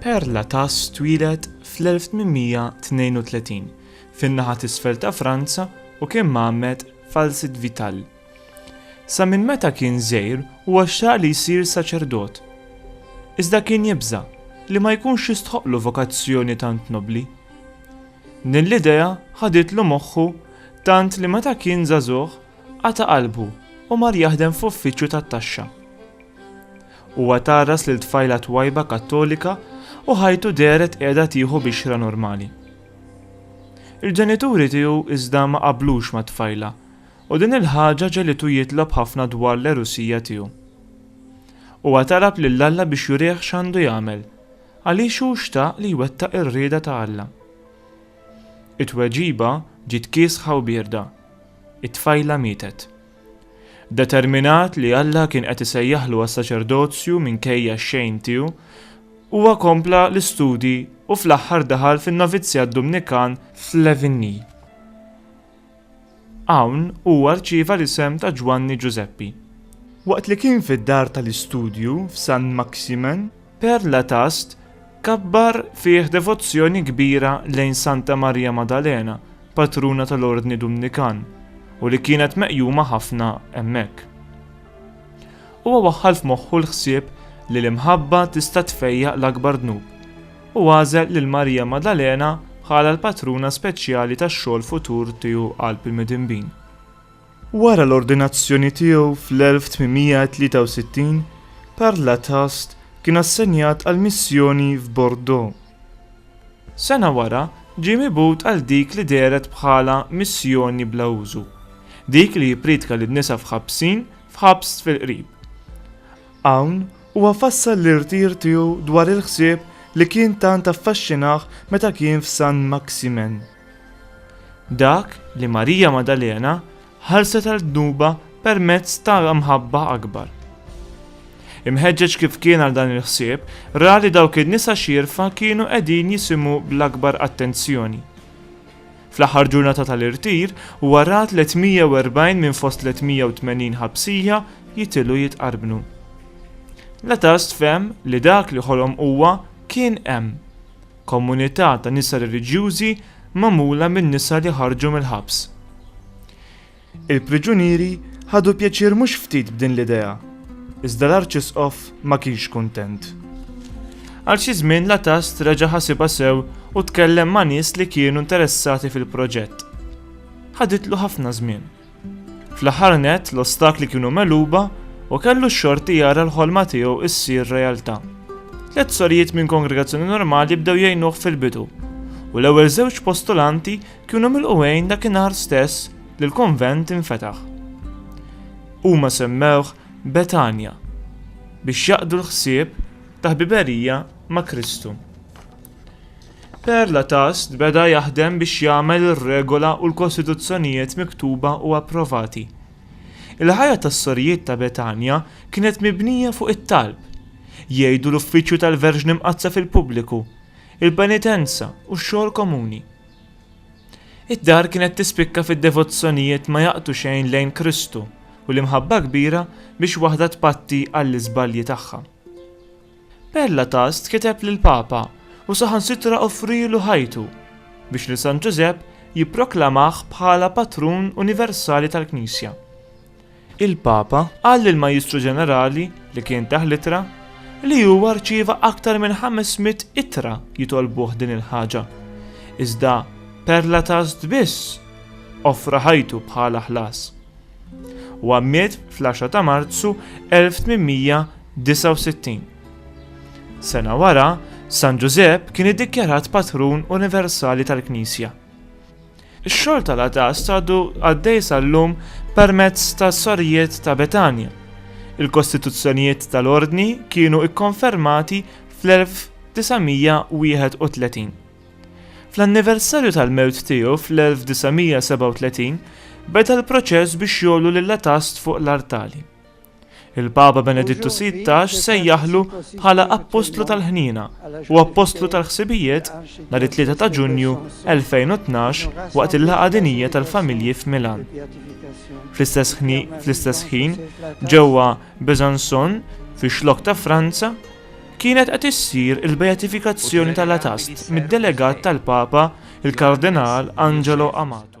Père Latas twieled fl-1832 fin-naħa t'isfel ta' Franza u kien mgħammed f'Alcide Vital. Sa minn meta kien żgħir huwa xtaq li jsir saċerdot. Iżda kien jibża' li ma jkunx jistħoqqlu vokazzjoni tant nobbli. Din l-idea ħaditlu moħħu tant li meta kien żagħżugħ qata' qalbu u mar jaħdem f'uffiċċju tat-taxxa. Huwa tgħarras lil tfajla twajba Kattolika u ħajtu dehret qiegħda tieħu bixra normali. Il-ġenituri tiegħu iżda ma qablux mat-tfajla u din il-ħaġa ġegħlitu jitlob ħafna dwar l-għerusija tiegħu. Huwa talab lil Alla biex jurih x'għandu jagħmel għaliex hu xtaq li jwettaq ir-rieda ta' Alla. It-tweġiba ġiet kiesħa u bierda. It-tfajla mietet. Determinat li Alla kien qed isejjaħlu għas-saċerdozju minkejja x-xejn tiegħu, huwa kompla l-istudji u fl-aħħar daħal fin-novizzjat Dumnikan f'Levigny. Hawn huwa rċieva l-isem ta' Ġwanni Ġużeppi. Waqt li kien fid-dar tal-istudju f'Saint-Maximin, Perla Tast kabbar fih devozzjoni kbira lejn Santa Marija Maddalena, patruna tal-Ordni Dumnikan, u li kienet meqjuma ħafna hemmhekk. Huwa waħħal f'moħħu l-ħsieb li l-imħabba tista' tfejjaq l-akbar dnub, u għażel lil Marija Maddalena bħala l-patruna speċjali tax-xogħol futur tiegħu qalb il-midinbin. Wara l-ordinazzjoni tiegħu fl-1863, Karl Latast kien assenjat għal missjoni f'Bordeaux. Sena wara ġie mibgħut għal dik li dehret bħala missjoni bla użu, dik li jippriedka lin-nisa f'ħabsin f'ħabs fil-qrib. Hawn huwa fassal l-irtir tiegħu dwar il-ħsieb li kien tant affaxxinah meta kien f'Saint-Maximin. Dak li Marija Maddalena ħallset għal dnubha permezz ta' mħabba akbar. Imħeġġeġ kif kien għal dan il-ħsieb, ra li dawk in-nisa xierfa kienu qegħdin jisimgħu bl-akbar attenzjoni. Fl-aħħar ġurnata tal-irtir, huwa ra 340 minn fost 380 ħabsija jitilgħu jitqarbnu. L-Atast fehem li dak li ħolom huwa kien hemm. Komunità ta' nisa reliġjużi magħmula minn nisa li ħarġu mill-ħabs. Il-priġunieri ħadu pjaċir mhux ftit b'din l-idea, iżda l-Arċisqof ma kienx kuntent. Għal xi żmien Latast reġa' ħasibha sew u tkellem ma' nies li kienu interessati fil-proġett. Ħaditlu ħafna żmien. Fl-aħħar nett, l-ostakli kienu megħluba u kellu x-xorti jara l-ħolma tiegħu issir realtà. Tliet sorijiet minn kongregazzjoni normali bdew jgħinuh fil-bidu, u l-ewwel żewġ postulanti kienu milqugħin dakinhar stess li l-konvent infetaħ. Huma semmewh Betanja biex jaqdu l-ħsieb ta' ħbiberija ma' Kristu. Perla Tast beda jaħdem biex jagħmel ir-regola u l-kostituzzjonijiet miktuba u approvati. Il-ħajja tas-Sorijiet ta' Betanja kienet mibnija fuq it-talb. Jgħidu l-uffiċċju tal-Verġni Mqaddsa fil-pubbliku, il-penitenza u x-xogħol komuni. Id-dar kienet tispikka fid-devozzjonijiet ma jaqtu xejn lejn Kristu u l-imħabba kbira biex waħda tpatti għall-iżbalji tagħha. Père Latast kiteb lill-Papa u saħansitra offrielu ħajtu biex lil San Ġużepp jipproklamah bħala patrun universali tal-Knisja. Il-Papa qal lill-Majjistru Ġenerali li kien tah l-ittra li huwa rċieva aktar minn ħames mitt ittra jitolbuh din il-ħaġa, iżda Père Latast biss offra ħajtu bħala ħlas. Huwa miet fl-10 ta' Marzu 1869. Sena wara, San Ġużepp kien iddikjarat patrun universali tal-Knisja. Ix-xogħol tal-għatast għadu għaddej sal-lum permezz tas-Sorijiet ta' Betanja. Il-kostituzzjonijiet tal-Ordni kienu kkonfermati fl-1931. Fl-anniversarju tal-mewt tiegħu fl-1937, beda l-proċess biex jogħlu lill-Atast fuq l-artali. Il-Papa Benedittu XVI sejjaħlu bħala Appostlu tal-Ħniena u Appostlu tal-Ħsibijiet nhar it-3 ta' Ġunju 2012 waqt il-Laqgħa Dinjija tal-Familji f'Milan. Fl-istess ħin, ġewwa Besançon, fix-xlokk ta' Franza, Kienet qed issir il-beatifikazzjoni ta' Latast mid-delegat tal-Papa, il-Kardinal Angelo Amato.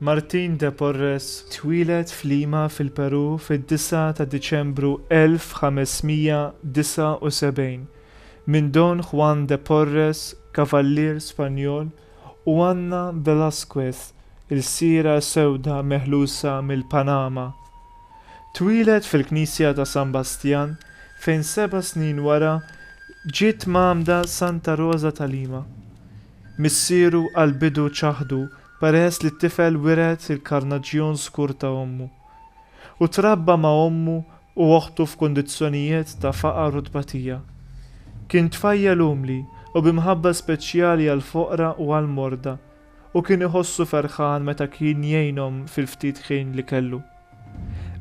Martin de Porres twieled f'Lima fil-Perù fid-9 ta' Diċembru 1579 minn Don Juan de Porres, kavallier Spanjol, u Anna Velázquez, ilsiera sewda meħlusa mill-Panama. Twieled fil-knisja ta' San Bastjan fejn seba' snin wara ġiet mgħammda Santa Rosa ta' Lima. Missieru għall-bidu ċaħdu Peress li t-tifel wiret il-karnaġġjon skur ta' ommu, u trabba ma' ommu u oħtu f'kundizzjonijiet ta' faqar u tbatija, kien tfajjel umli u bi mħabba speċjali għall-foqra u għall-morda u kien iħossu ferħan meta kien jgħinhom fil-ftit ħin li kellu.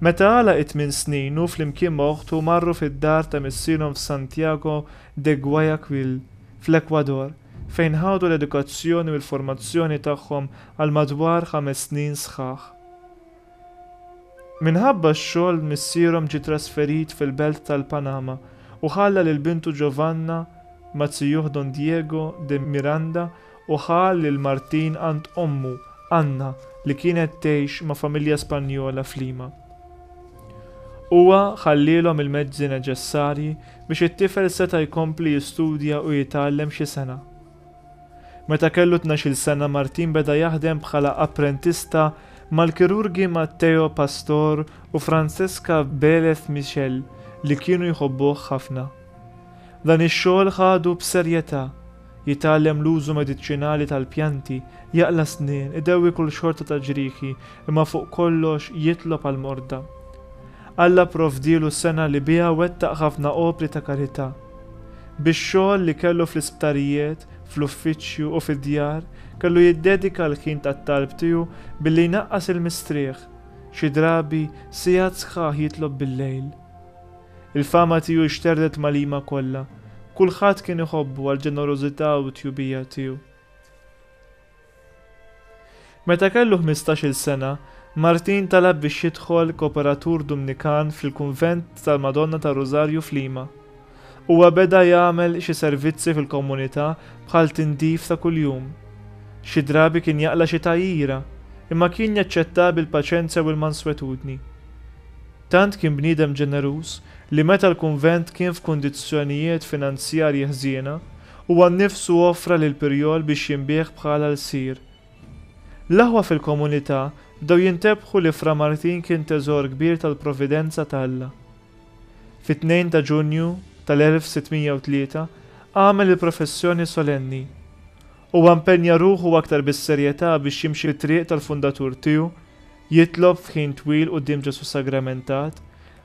Meta għalaq it-tmien snin hu flimkien ma' oħtu marru fid-dar ta' missierhom f'Santiago de Guayaquil, fl-Ekwador, fejn ħadu l-edukazzjoni u l-formazzjoni tagħhom għal madwar ħames snin sħaħ. Minħabba x-xogħol missierhom ġie trasferit fil-belt tal-Panama u ħalla lil bintu Giovanna ma' zijuh Don Diego de Miranda u ħa lil Martin għand ommu, Anna, li kienet tgħix ma' familja Spanjola f'Lima. Huwa ħallielhom il-mezzi neċessarji biex it-tifel seta' jkompli jistudja u jitgħallem xi sena. Meta kellu tnax-il sena Martin beda jaħdem bħala apprentista mal-kirurgi Matteo Pastor u Francesca Belez Michel li kienu jħobbuh ħafna. Dan ix-xogħol ħadu b'serjetà. Jitgħallem l-użu mediċinali tal-pjanti, jaqla' s-snien, idewwi kull xorta ta' ġrieħi, imma fuq kollox jitlob għall-morda. Alla pprovdielu sengħa li biha wettaq ħafna opri ta' karità. Bix-xogħol li kellu fl-isptarijiet, fl-uffiċċju u fid-djar, kellu jiddedika l-ħin tat-talb tiegħu billi jnaqqas il-mistrieħ, xi drabi siegħat sħaħ jitlob bil-lejl. Il-fama tiegħu xterdet mal-ima kollha. Kulħadd kien iħobbu għall-ġenerożità u t-tjubija tiegħu. Meta kellu ħmistax-il sena, Martin talab biex jidħol koperatur Dumnikan fil-kunvent tal-Madonna tar-Rużarju f'Lima. Huwa beda jagħmel xi servizzi fil-komunità bħal tindif ta' kuljum. Xi drabi kien jaqla' xi tgħajjira, imma kien jaċċettha bil-paċenzja u l-manswetudni. Tant kien bniedem ġeneruż li meta l-kunvent kien f'kundizzjonijiet finanzjarji ħżiena, huwa nnifsu offra lil Pirjol biex jinbiegħ bħala lsir. L-aħwa fil-komunità bdew jintebħu li Fra Martin kien teżor kbir tal-providenza ta' Alla. Fit-tnejn ta' Ġunju tal-1603 għamel il-professjoni solenni. Huwa mpenja ruħu aktar bis-serjetà biex jimxi t-triq tal-fundatur tiegħu Jitlob f'ħin twil quddiem Ġesù Sagramentat,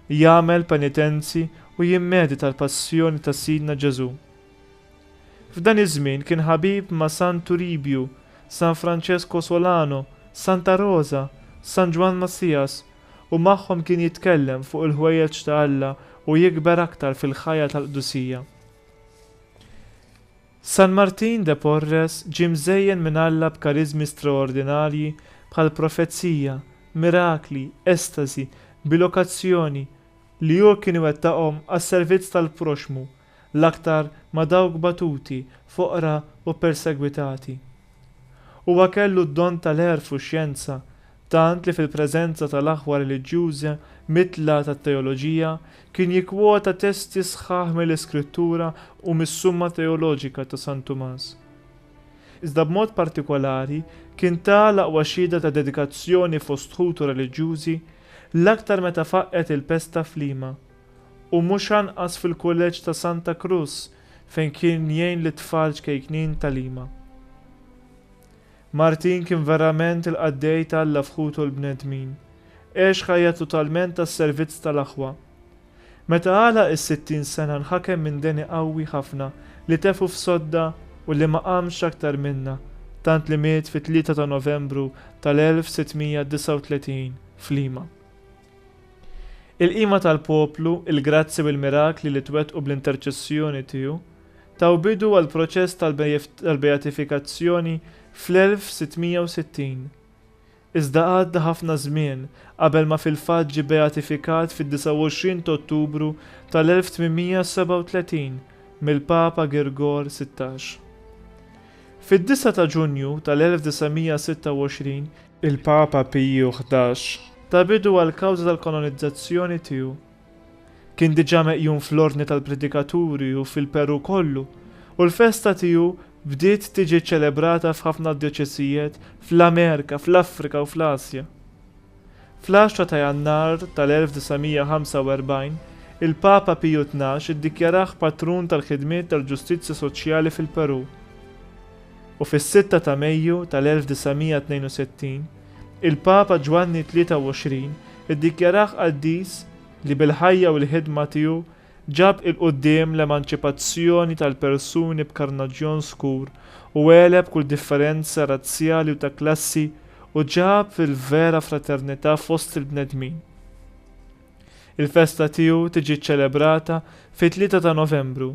jagħmel penitenzi u jimmedita l-Passjoni ta' Sidna Ġesù. F'dan iż-żmien kien ħabib ma' San Turibju, San Franċesku Solano, Santa Roża, San Ġwann Massias u magħhom kien jitkellem fuq il-ħwejjeġ ta' Alla u jikber aktar fil-ħajja tal-qdusija. San Martin de Porres ġie mżejjen minn Alla b'kariżmi straordinarji bħal profezija, mirakli, estasi, bilokazzjoni, li hu kien iwettaqhom għas-servizz tal-proxxmu, l-aktar ma' dawk batuti, foqra u persegwitati. Huwa kellu d-don tal-għerf u x-xjenza, tant li fil-preżenza tal-aħwa reliġjużi mitla tat-teoloġija, kien jikkwota testi sħaħ mill-Iskrittura u mis-Summa Teoloġika ta' San Tumas. Iżda b'mod partikolari, kien ta l-aqwa xhieda ta' dedikazzjoni fost ħutu reliġjużi, l-aktar meta faqqgħet il-pesta f'Lima, u mhux anqas fil-Kulleġġ ta' Santa Cruz fejn kien jgħin lit-tfal ċkejknin ta' Lima. Martin kien verament il-qaddej ta' Alla f'ħutu u l-bnedmin. Għex ħajja totalment għas-servizz tal-aħwa. Meta għalaq is-sittin sena nħakem minn deni qawwi ħafna li tefgħu f'sodda u li ma qamx aktar minnha, tant li miet fit-tlieta ta' Novembru tal-1639 f'Lima. Il-qima tal-poplu, il-grazzji u l-mirakli li twettqu bl-interċessjoni tiegħu, taw bidu għall-proċess tal-beatifikazzjoni fl-1660. Iżda għadda ħafna żmien qabel ma fil-fatt ġie beatifikat fid-29 t'Ottubru tal-1837 mill-Papa Girgor Sittax. Fid-disgħa ta' Ġunju tal-1926, il-Papa Piju Ħdax ta bidu għall-kawża tal-kanonizzazzjoni tiegħu. Kien diġà meqjum fl-Ordni tal-Predikaturi u fil-Perù kollu, u l-festa tiegħu bdiet tiġi ċċelebrata f'ħafna djoċesijiet fl-Amerika, fl-Afrika u fl-Asja. Fl-10 ta' Jannar tal-1945, il-Papa Piju Tnax iddikjarah patrun tal-ħidmiet tal-ġustizzja soċjali fil-Perù, u fis-6 ta' Mejju tal-1962, Il-Papa Ġwanni 23 iddikjarah qaddis li bil-ħajja u l-ħidma tiegħu ġab 'il quddiem l-emanċipazzjoni tal-persuni b'karnaġġjon skur u għeleb kull differenza razzjali u ta' klassi u ġab il-vera fraternità fost il-bnedmin'. Il-festa tiegħu tiġi ċċelebrata fit-Tlieta ta' Novembru.